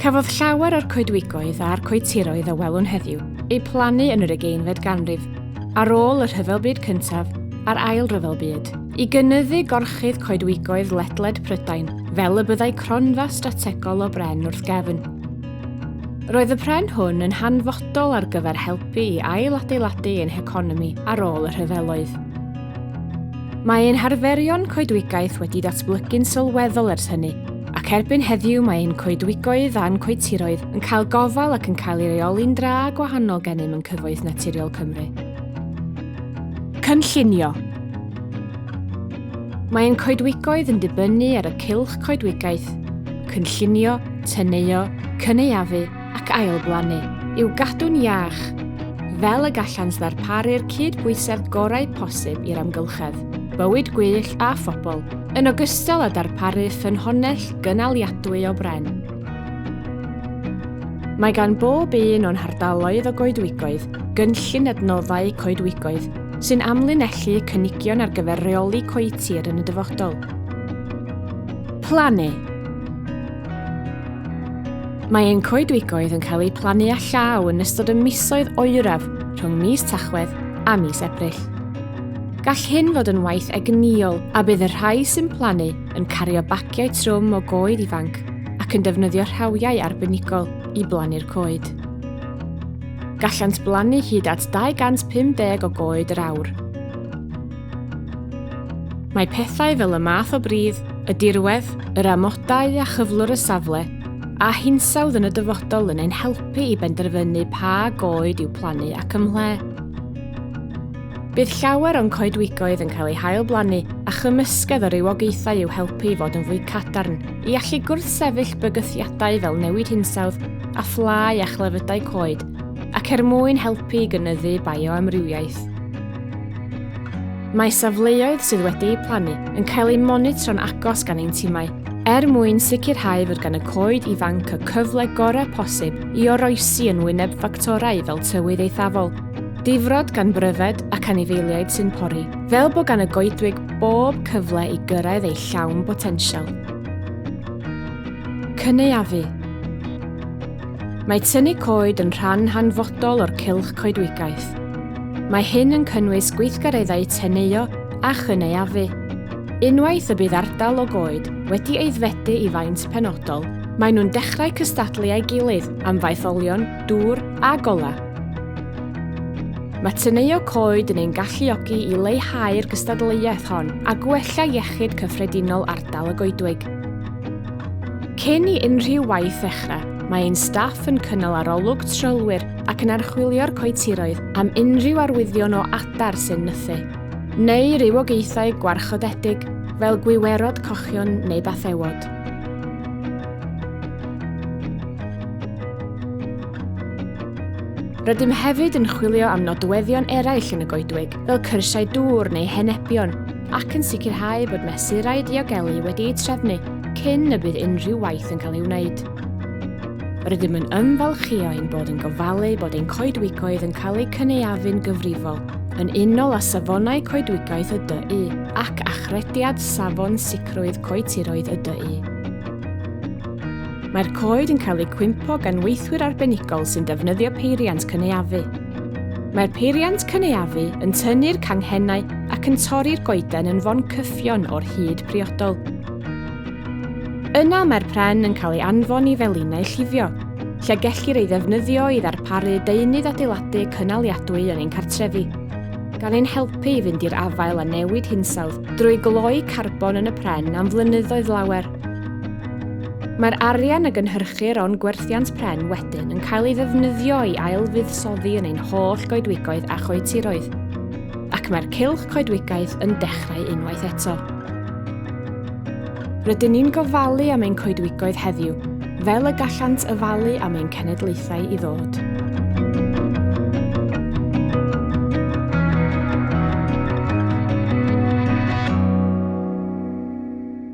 Cafodd llawer o'r coedwigoedd a'r coetiroedd a welwn heddiw eu plannu yn yr ugeinfed ganrif, ar ôl y Rhyfel Byd Cyntaf a'r Ail Ryfel Byd. I gynyddu gorchudd coedwigoedd ledled Prydain, fel y byddai cronfa strategol o bren wrth gefn. Roedd y pren hwn yn hanfodol ar gyfer helpu i ail-adeiladu ein heconomi ar ôl y rhyfeloedd. Mae ein harferion coedwigaeth wedi datblygu'n sylweddol ers hynny, ac erbyn heddiw mae ein coedwigoedd a'n coetiroedd yn cael gofal ac yn cael ei reoli'n dra gwahanol gennym yn Cyfoeth Naturiol Cymru. Cynllunio Mae ein coedwigoedd yn dibynnu ar y cylch coedwigaeth, cynllunio, teneuo, cynaeafu ac ailblannu, i'w gadw'n iach, fel y gallant ddarparu'r cyd-bwysedd gorau posib i'r amgylchedd, bywyd gwyllt a phobl, yn ogystal â darparu ffynhonnell gynaliadwy o bren. Mae gan bob un o'n hardaloedd o goedwigoedd gynllun adnoddau coedwigoedd sy'n amlinellu cynigion ar gyfer rheoli coetir yn y dyfodol. Plannu Mae ein coedwigoedd yn cael eu plannu â llaw yn ystod y misoedd oeraf rhwng mis Tachwedd a mis Ebrill. Gall hyn fod yn waith egnïol a bydd y rhai sy'n plannu yn cario bagiau trwm o goed ifanc ac yn defnyddio rhawiau arbenigol i blannu'r coed. Gallant blannu hyd at 250 o goed yr awr. Mae pethau fel y math o bridd, y dirwedd, yr amodau a chyflwr y safle, a hinsawdd yn y dyfodol yn ein helpu i benderfynu pa goed i'w plannu ac ymhle. Bydd llawer o'n coedwigoedd yn cael eu hail-blannu a chymysgedd o rywogaethau i'w helpu i fod yn fwy cadarn, i allu gwrthsefyll bygythiadau fel newid hinsawdd a phlâu a chlefydau coed, ac er mwyn helpu i gynyddu bioamrywiaeth. Mae safleoedd sydd wedi'u plannu yn cael eu monitro'n agos gan ein timau, er mwyn sicrhau fod gan y coed ifanc y cyfle gorau posib i oroesi yn wyneb ffactorau fel tywydd eithafol, Difrod gan bryfed ac anifeiliaid sy'n pori. Fel bod gan y goedwig bob cyfle i gyrraedd ei llawn botensial. Cynaeafu. Mae tynnu coed yn rhan hanfodol o'r cylch coedwigaeth. Mae hyn yn cynnwys gweithgareddau teneuo a chynaeafu. Unwaith y bydd ardal o goed wedi eiddfedu i faint penodol, maen nhw'n dechrau cystadlu â'i gilydd am faetholion dŵr a golau. Mae teneuo coed yn ein galluogi i leihau'r gystadleuaeth hon a gwella iechyd cyffredinol ardal y goedwig. Cyn i unrhyw waith ddechrau, mae ein staff yn cynnal arolwg trylwyr ac yn archwilio'r coetiroedd am unrhyw arwyddion o adar sy'n nythu, neu rywogaethau gwarchodedig fel gwiwerod cochion neu bathewod. Rydym hefyd yn chwilio am nodweddion eraill yn y goedwig, fel cyrsiau dŵr neu henebion, ac yn sicrhau bod mesurau diogelu wedi'u trefnu cyn y bydd unrhyw waith yn cael ei wneud. Rydym yn ymfalchio ein bod yn gofalu bod ein coedwigoedd yn cael eu cynaeafu'n gyfrifol, yn unol â safonau coedwigaeth y DU ac achrediad Safon Sicrwydd Coetiroedd y DU. Mae'r coed yn cael eu cwympo gan weithwyr arbenigol sy'n defnyddio peiriant cynaeafu. Mae'r peiriant cynaeafu yn tynnu'r canghennau ac yn torri'r goeden yn fon cyffion o'r hyd priodol. Yna mae'r pren yn cael ei anfon i felinau llifio, lle gellir ei ddefnyddio i ddarparu deunydd adeiladu cynaliadwy yn ein cartrefi, gan ein helpu i fynd i'r afael â newid hinsawdd drwy gloi carbon yn y pren am flynyddoedd lawer. Mae'r arian y gynhyrchir o'n gwerthiant pren wedyn yn cael ei ddefnyddio i ailfuddsoddi yn ein holl goedwigoedd a choetiroedd, ac mae'r cylch coedwigaeth yn dechrau unwaith eto. Rydyn ni'n gofalu am ein coedwigoedd heddiw, fel y gallant yfalu am ein cenedlaethau i ddod.